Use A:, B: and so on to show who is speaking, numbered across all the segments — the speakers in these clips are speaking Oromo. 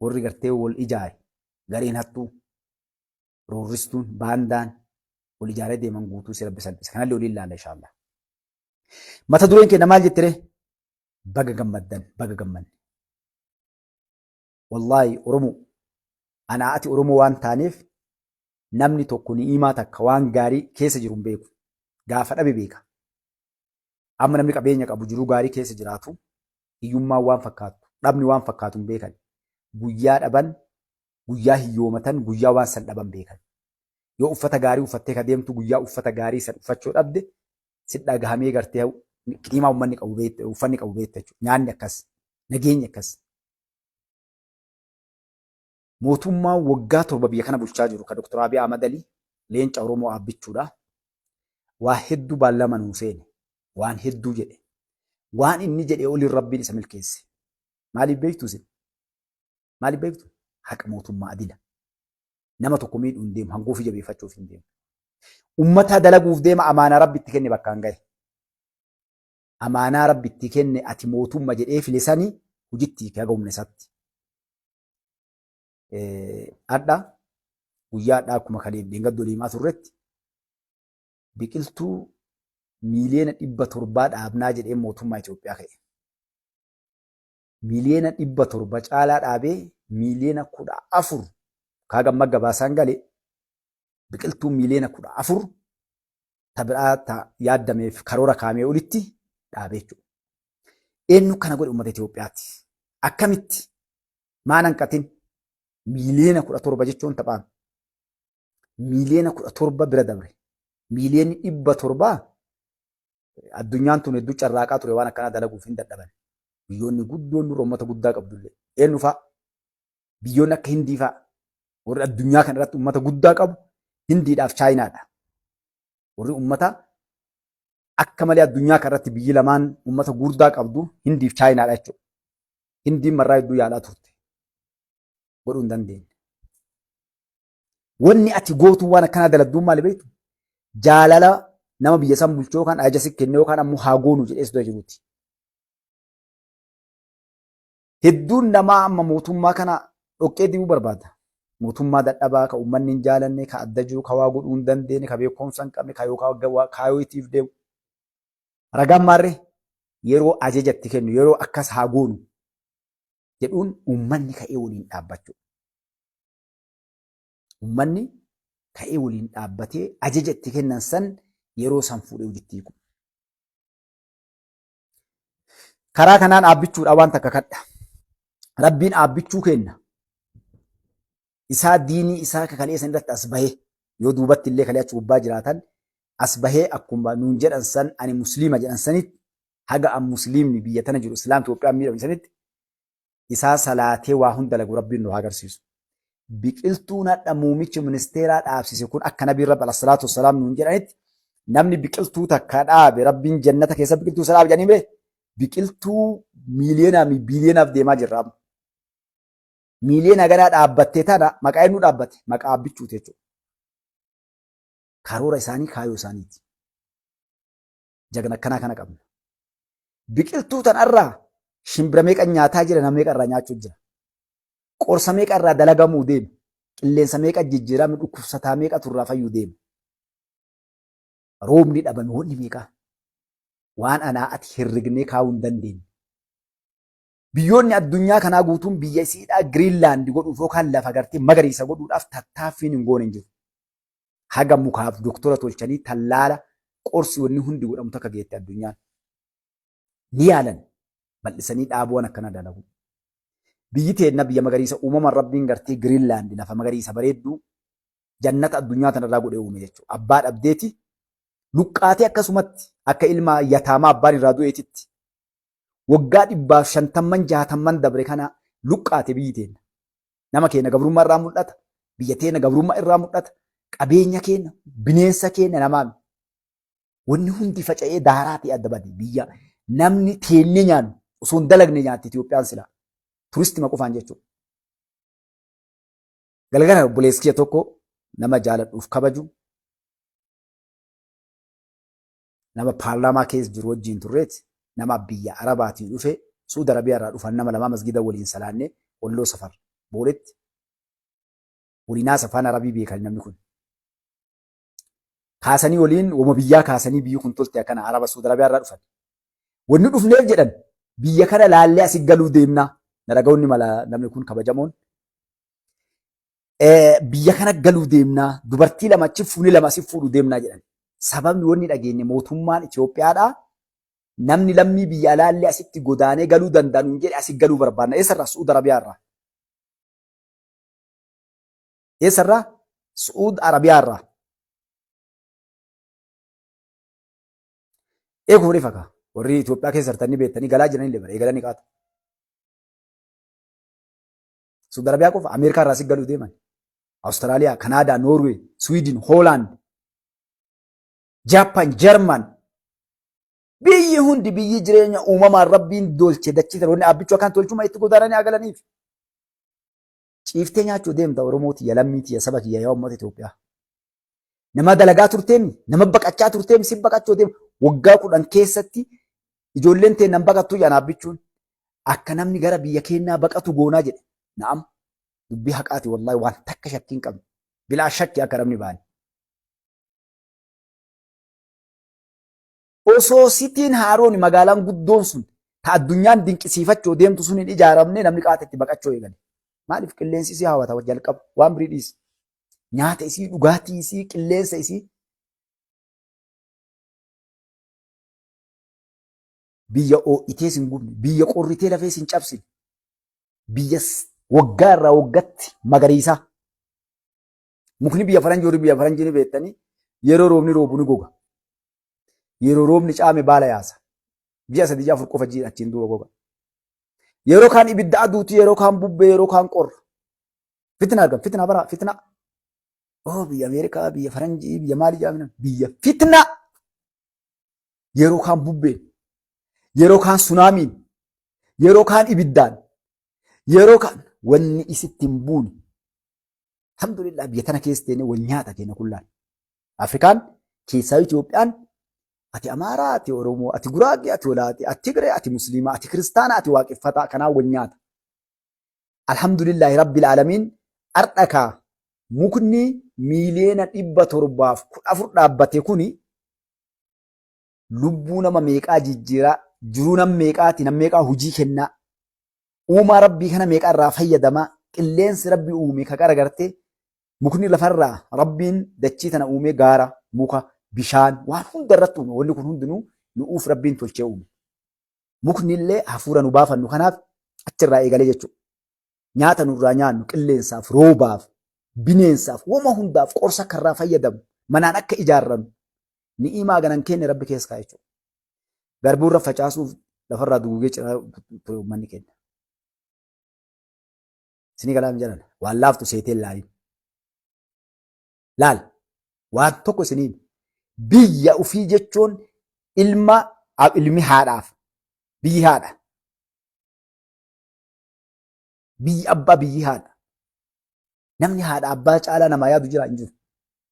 A: warri gartee wal ijaare gareen hattuu roorristuun baandaan wal ijaaree deeman guutuu si rabbi salphisa. Kanallee waliin laalla inshaallah. Mata dureen keenya maal jettiree? Baga gammaddan baga gammanne. Wallaahi Oromoo anaa ati Oromoo waan taaneef namni tokko ni'imaa takka waan gaarii keessa jiru hin beeku. Gaafa dhabe beeka. Amma namni qabeenya qabu jiruu gaarii keessa jiraatu hiyyummaan waan fakkaatu dhabni waan fakkaatu hin beekan. Guyyaa dhaban guyyaa hiyyoomatan guyyaa waan san dhaban beekan. Yoo uffata gaarii uffattee ka deemtu guyyaa uffata gaarii san uffachuu dhabde si dhagahamee gartee qiimaa ummanni qabu beekta uffanni qabu beekta jechuudha. Nyaanni akkas nageenyi akkas. Mootummaan waggaa torba biyya kana bulchaa jiru ka Dr. Abiy Ahmad Ali leenca Oromoo aabbichuudha. Waa hedduu baallama nuu seene. Waan hedduu jedhe. Waan inni jedhee oliin Rabbiin isa milkeesse. Maaliif beektu isin? Maaliif beektu? Haqa mootummaa adila. Nama tokko miidhuu hin deemu. Hangoo ofii jabeeffachuuf hin deemu. Ummataa dalaguuf deema amaanaa Rabbi itti kenne bakkaan gahe. Amaanaa Rabbi itti kenne ati mootumma jedhee file sani hojitti hiike haga humna isaatti. Hadha guyyaa hadhaa akkuma kaleef dheengaddo deemaa turretti biqiltuu miiliyoona dhibba torbaa dhaabnaa jedhee mootummaa Itoophiyaa ka'e. Miiliyoona dhibba torba caalaa dhaabee miiliyoona kudha afur kaagamma gabaasaan gale biqiltuu miiliyoona kudha afur ta biraa ta yaaddameef karoora kaamee olitti dhaabee jechuudha. Eenyu kana godhe uummata Itoophiyaati. Akkamitti? Maan hanqatin? Miiliyoona kudha torba jechuun taphaame. Miiliyoona kudha torba bira dabre. Miiliyoonni dhibba torbaa addunyaan tun hedduu carraaqaa ture waan akkanaa dalaguuf hin dadhaban. Biyyoonni guddoon dura uummata guddaa qabdullee. Eenyu fa'a? biyyoonni akka Hindii fa'a warri addunyaa kana irratti uummata guddaa qabu Hindiidhaaf Chaayinaadha. Warri uummata akka malee addunyaa kana irratti biyyi lamaan uummata guddaa qabdu Hindiif Chaayinaadha jechuudha. Hindiin marraa hedduu yaalaa turte. Godhuu hin dandeenye. Wanni ati gootu waan akkanaa dalagduun maali beektu? Jaalala nama biyya san bulchuu yookaan ajaja si kennee yookaan ammoo haa goonu jedhee sodaa jiruuti. hedduun namaa amma mootummaa kana dhoqqee dibuu barbaada. Mootummaa dadhabaa ka uummanni hin jaalanne, ka adda jiru, ka waa godhuu hin dandeenye, ka beekumsa hin qabne, ka yookaan kaayoo itiif deemu. Ragaan maarree yeroo ajaja itti kennu, yeroo akkas haa goonu jedhuun uummanni ka'ee waliin dhaabbachuu. Uummanni ka'ee waliin dhaabbatee ajaja itti kennan san yeroo san fuudhee hojitti hiiku. Karaa kanaan aabbichuudha waan takka kadha. Rabbiin aabbichuu kenna. Isaa diinii isaa kakalee san irratti as bahee yoo duubatti illee kalee achi gubbaa jiraatan as bahee akkuma nuun jedhan san ani musliima jedhan sanitti haga an musliimni biyya tana jiru islaam Itoophiyaan miidhamne sanitti isaa salaatee waa hunda lagu rabbiin nu haa agarsiisu. Biqiltuun hadha muumichi ministeeraa dhaabsise kun akka nabiin rabbi alasalaatu wasalaam nuun jedhanitti namni biqiltuu takka dhaabe rabbiin jannata keessa biqiltuu isa dhaabe jedhanii bee biqiltuu miiliyoonaa fi biiliyoonaaf deemaa jirra amma. Miiliyoona ganaa dhaabbattee tana maqaa eenyu dhaabbate maqaa abbichuuti jechuudha. Karoora isaanii kaayoo isaaniiti. Jagna akkanaa kana qabna. Biqiltuu tanarraa shimbira meeqa nyaataa jira nama meeqa irraa nyaachuu jira. Qorsa meeqa irraa dalagamuu deema. Qilleensa meeqa jijjiirame dhukkubsataa meeqa turraa fayyuu deema. Roobni dhabame wanni meeqaa waan anaa ati herregnee kaa'uu hin dandeenye. Biyyoonni addunyaa kanaa guutuun biyya isiidhaa Giriinlaand godhuuf yookaan lafa gartee magariisa godhuudhaaf tattaaffiin hin goone hin jiru. Haga mukaaf doktora tolchanii tallaala qorsi wanni hundi godhamu takka geette addunyaan. Ni yaalan bal'isanii dhaabuwan akkana dalagu. Biyyi teenna biyya magariisa uumamaan rabbiin gartee Giriinlaand lafa magariisa bareedduu jannata addunyaa tanarraa godhee uume jechuudha. Abbaa dhabdeeti luqqaatee akkasumatti akka ilma yataamaa abbaan irraa du'eetitti waggaa dhibbaaf shantamman jaatamman dabre kana luqqaate biyyi teenna. Nama keenya gabrummaa irraa mul'ata, biyya teenna gabrummaa irraa mul'ata, qabeenya keenya, bineensa keenya namaan. Wanni hundi faca'ee daaraatii adda bade biyya namni teennee nyaannu osoo hin dalagne nyaatti Itoophiyaan silaa. Turistima qofaan jechuudha. Galgala obboleessi kiyya tokko nama jaaladhuuf kabaju nama paarlaamaa keessa jiru wajjiin turreet nama biyya arabaatii dhufe suud arabiyaa irraa dhufan nama lamaa masgida waliin salaanne walloo safar booletti waliin haasa afaan arabii beekan namni kun kaasanii waliin wama biyyaa kaasanii biyyi kun tolte akkana araba suud arabiyaa irraa dhufan wanni dhufneef jedhan biyya kana laallee asi galuu deemnaa naragaonni mala namni kun kabajamoon biyya kana galuu deemnaa dubartii lama achi fuunee lama asif fuudhu deemnaa jedhan. Sababni wanni dhageenye mootummaan Itoophiyaadhaa namni lammii biyya alaallee asitti godaanee galuu danda'a nuun jedhe asi galuu barbaanna. Eessarraa? Su'uud Arabiyaarraa. Eessarraa? Su'uud Arabiyaarraa. Eeguu ni fakaa. Warri Itoophiyaa keessa jirtanii beektanii galaa jiranillee bara eegalanii qaata. Suudi Arabiyaa qofa Ameerikaa irraa si galu deeman. Awustiraaliyaa, Kanaadaa, Noorwee, Swiidin, Hoolaand, Jaappaan, Jarman. Biyyi hundi biyyi jireenya uumamaan rabbiin dolche dachii tana wanni abbichuu akkaan tolchuma itti godaananii haa galaniif. Ciiftee nyaachuu deemta Oromoo tiyya lammii tiyya saba kiyya yaa uummata Itoophiyaa. Nama dalagaa turteem, nama baqachaa turteem, si baqachoo deem waggaa kudhan keessatti ijoolleen tee nan baqattuu jedhan abbichuun akka namni gara biyya keenyaa baqatu goonaa jedhe. Na'am dubbii haqaati wallaahi waan takka shakkiin qabne. Bilaa shakki akka namni baane. Osoo Sitiin Haaroon magaalaan guddoon sun ta addunyaan dinqisiifachoo deemtu sun hin ijaaramne namni qaata itti baqachoo eegale. Maaliif qilleensi isii hawata jalqaba waan birii dhiisi. Nyaata isii dhugaatii isii qilleensa isii biyya oo'itee sin gubne biyya qorritee lafee sin cabsine biyya waggaa irraa waggatti magariisaa Mukni biyya faranjii warri biyya faranjii ni beektanii yeroo roobni roobu ni goga. Yeroo roobni caame baala yaasa. Ji'a sadii ji'a afur qofa jiidha achiin duuba goga. Yeroo kaan ibidda aduuti yeroo kaan bubbee yeroo kaan qorra. Fitina argama fitina bara fitina. Oo biyya Ameerikaa biyya faranjii biyya maali jaamina biyya fitina. Yeroo kaan bubbeen yeroo kaan sunaamiin yeroo kaan ibiddaan yeroo kaan wanni isitti hin buune Alhamdulillah biyya tana keessa teenee wal nyaata keenya kullaan. Afrikaan keessaa Itoophiyaan ati Amaaraa, ati Oromoo, ati Guraagee, ati Walaatee, ati Tigree, ati Musliimaa, ati Kiristaanaa, ati Waaqeffataa kanaa wal nyaata. Alhamdulillah Rabbil Aalamiin har'a kaa mukni miiliyoona dhibba torbaaf kudha afur dhaabbate kuni lubbuu nama meeqaa jijjiiraa, jiruu nam meeqaati, nam meeqaa hujii kennaa, uumaa rabbii kana meeqa irraa fayyadamaa, qilleensi rabbi uume ka qaragarte, mukni lafarraa rabbiin dachii tana uumee gaara, muka, bishaan waan hunda irratti uume wanni kun hundinuu nu'uuf rabbiin tolchee uume. Mukni illee hafuura nu baafannu kanaaf achirraa eegalee jechuudha. Nyaata nurraa nyaannu qilleensaaf, roobaaf, bineensaaf, wama hundaaf qorsa akka irraa fayyadamu, manaan akka ijaarrannu, Ni'imaa ganan kenne rabbi keessa kaa'e jechuudha. Garbuu irra facaasuuf lafarraa duguugee ciraa ture uummanni kenna. Isinii galaa hin jedhan. Waan laaftu seetee laaliin. Laal. Waan tokko isiniin biyya ofii jechuun ilma ilmi haadhaaf biyyi haadha. Biyyi abbaa biyyi haadha. Namni haadha abbaa caalaa namaa yaadu jira hin jiru.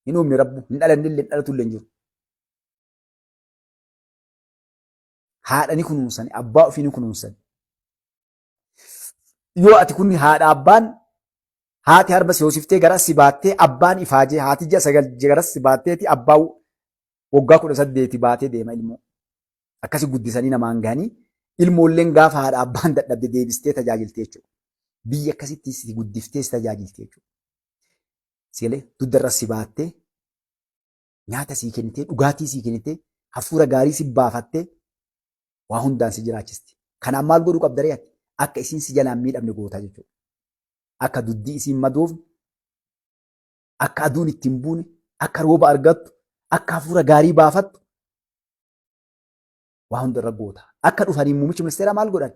A: Hin uumne rabbu hin dhalanne illee hin dhalatu illee hin jiru. Haadha ni kunuunsan abbaa ofii ni kunuunsan. Yoo ati kunni haadha abbaan haati harma si hoosiftee gara si baattee abbaan ifaajee haati ji'a sagal gara si baatteeti abbaa waggaa kudha saddeeti baatee deema ilmoo. Akkasi guddisanii namaan gahanii ilmoolleen gaafa haadha abbaan dadhabde deebistee tajaajilti jechuudha. Biyya akkasitti si guddiftee si tajaajilti jechuudha. Sigalee dugdarra si baattee nyaata sii kennitee dhugaatii sii kennitee hafuura gaarii si baafattee waa hundaan si jiraachisti. Kanaan maal godhuu qabda ree ati? Akka isiin si jalaan miidhamne gootaa jechuudha. Akka duddii isiin madoofne, akka aduun ittiin buune, akka rooba argattu, akka hafuura gaarii baafattu Waa hunda irra goota. Akka dhufaniin muummichi ministeeraa maal godhan?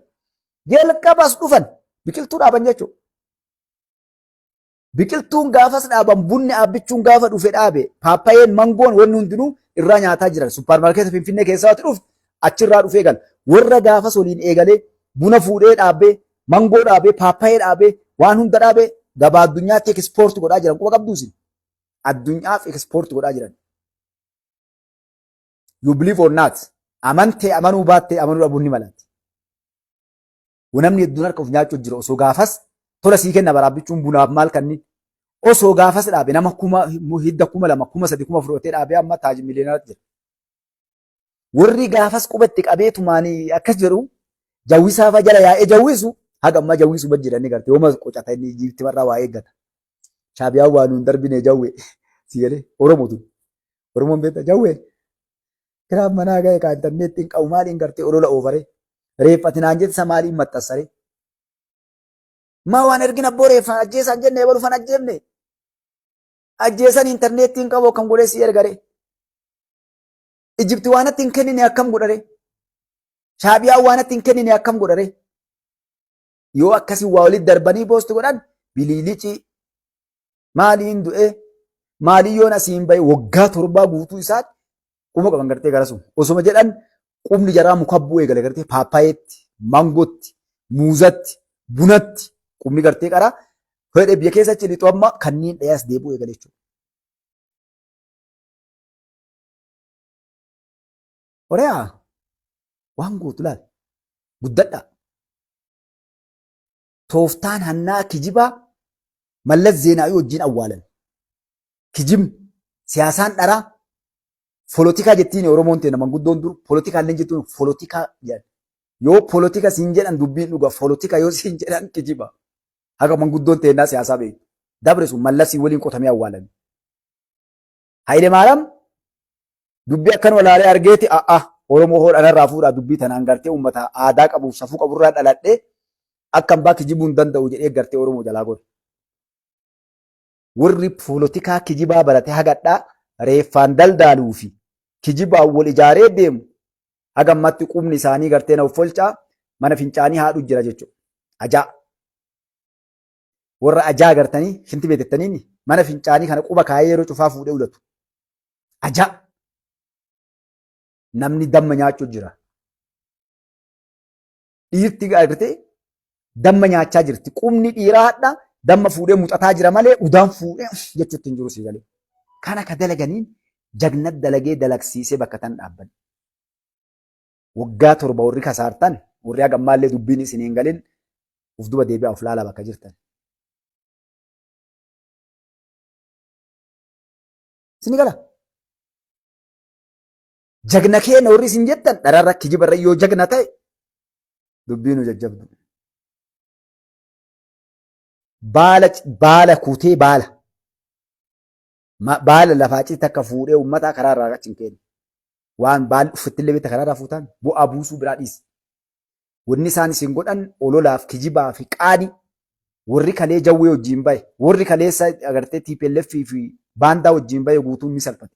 A: Jalqabas dhufan biqiltuu dhaaban jechuudha. Biqiltuun gaafas dhaaban bunni aabbichuun gaafa dhufe dhaabe paappayeen mangoon wanni hundinuu irraa nyaataa jiran suppaarmaarkeeta finfinnee keessaa wati dhufte achirraa dhufee gala. Warra gaafas waliin eegalee buna fuudhee dhaabee mangoo dhaabee paappayee dhaabee waan hunda dhaabee gabaa addunyaatti ekspoorti godhaa jiran quba qabduusin addunyaaf ekspoorti godhaa jiran. You believe or not. Amantee amanuu baattee amanuu dhabuun ni malatti. Namni hedduun harka of nyaachuuf jira osoo gaafas tola sii kenna baraabbichuun bunaaf maal kanni osoo gaafas dhaabe nama kuma hidda kuma lama kuma sadi kuma fudhatee dhaabe amma taajii miliyoonatti jira. Warri gaafas qubatti qabeetumaan akkas jedhu jawwisaa fa jala yaa'ee jawwisu haga ammaa jawwisu bad jedhanii garte yooma qocata inni jiifti barraa waa eeggata. Shaabiyaan waa nuun darbine jawwe si galee Oromoo tun. Oromoon beekta jawwee. Kiraaf manaa ga'e kaa intarneetti hin qabu maaliin gartee olola oofare. Reeffati naan jettisa maaliin maxxansare. Maa waan ergin abboo reeffaan ajjeesaan jenne ebalu fan ajjeefne. Ajjeesan intarneetti hin qabu akkam godhee si ergare. Ijibti waanatti hin kennine akkam godhare. Shaabiyaan waanatti hin kennine akkam godhare. yoo akkasii waa walitti darbanii poosti godhan biliilicii maaliin du'ee maalii yoon asiin bahe waggaa torbaa guutuu isaatti quma qaban gartee garasu osuma jedhan qubni jaraa muka bu'u eegale gartee paappayeetti maangootti muuzatti bunatti qubni gartee qara fedhe biyya keessa achi lixu amma kanneen dhayaas deebi'u eegale jechuudha. Horee'aa waan gootu laal guddadhaa. Tooftaan hannaa kijibaa Mallas Zeenaawii wajjin awwaalan. Kijibni, siyaasaan dharaa, folotikaa jettiin Oromoon teena manguddoon dur folotikaa illee jettuun folotikaa jedhan. Yoo folotika siin jedhan dubbiin dhuga folotika yoo siin jedhan kijiba. Haga manguddoon teennaa siyaasaa beektu. Dabre sun Mallasii waliin qotamee awwaalame. Hayile Maaram dubbii akkanuma ilaalee argeeti a'a Oromoo hoo dhanarraa fuudhaa dubbii tanaan gartee uummata aadaa qabuuf safuu qaburraa dhaladhee akka ambaa kijibuu hin danda'u jedhee gartee Oromoo jalaa godhe. Warri poolotikaa kijibaa barate hagadhaa reeffaan daldaaluu fi kijibaan wal ijaaree deemu haga ammatti qubni isaanii gartee na uffolchaa mana fincaanii haadhu jira jechuudha. Ajaa! warra ajaa agartanii shinti beetettaniin mana fincaanii kana quba kaayee yeroo cufaa fuudhee ulatu. Ajaa! Namni damma nyaachuu jira. Dhiirti agartee damma nyaachaa jirti. Qubni dhiiraa hadha damma fuudhee muxataa jira malee udaan fuudhee jechuutti hin jiru sii galee. Kana ka dalaganiin jagnat dalagee dalagsiisee bakka tan dhaabban. waggaa torba warri kasaartan warri haga ammaallee dubbiin isin hin galin of duba deebi'aa of laalaa bakka jirtan. Isin gala. Jagna keenya warri isin jettan dhararra kijibarra yoo jagna ta'e dubbii nu jajjabdu. Baala baala kutee baala. Ma- Baala lafaa achitti takka fuudhee uummataa karaa irraa achi hin kennu. Waan baalli uffitti illee beekta karaa irraa fuutaan bu'aa buusuu biraa dhiisi. Wanni isaan isin godhan ololaaf kijibaa fi qaani warri kalee jawwee wajjin bahe warri kaleessa agartee TPLF fi baandaa wajjin bahe guutuun ni salphate.